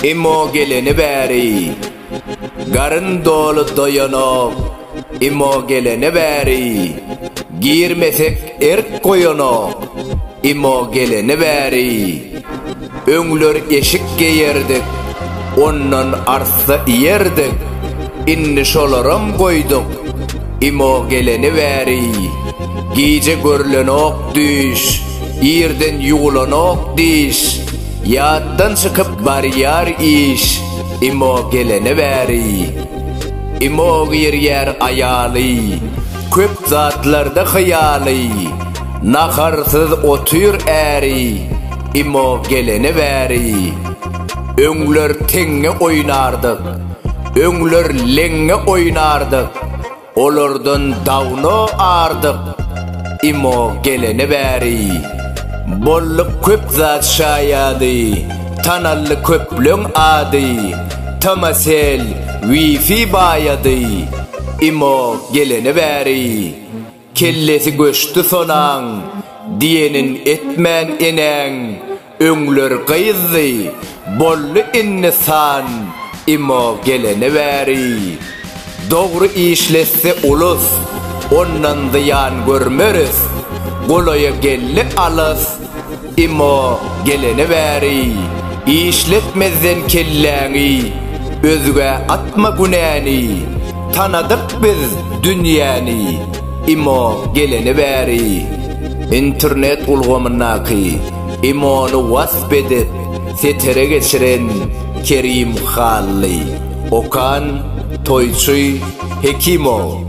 Imo geleni bäri Garyn doly doýanok Imo geleni bäri Girmesek Erk goýanok, imo geleni bäri. Öňler eşik geýerdik, ondan arssa iýerdik, indi şolaram goýduk, imo geleni bäri. Gije görlenok düýş, irden ýuwlanok diş, ýatdan çykyp barýar iş, imo geleni bäri. Imo girýär aýaly. Köp zatlarda hyýaly, Naharsyz otyr äri, Imo gelene bäri. Öňler teňňe oýnardyk, Öňler leňňe oýnardyk, Olardan dawno ardyk, Imo gelene bäri. Boldy köp zat şaýady, Tanaldy köpleň ady, Tmcell, Wi-Fi baýady. Imo geleni bäri, kellesi göçdi sonaň, diýenin etmän enäň, öňler gyzdy, boldy indi san, Imo geleni bäri. Dogry işletse ulus, ondan zyýan görmeris, golaýa geldi alys, Emma gelene bäri işletmezden kelläňi özgä atma günäni tanadyk biz dünýäni Emma gelene bäri internet ulgamyndaky Emony wasp edip setere geçiren Kerim Hally Okan Toýçy Hekimow.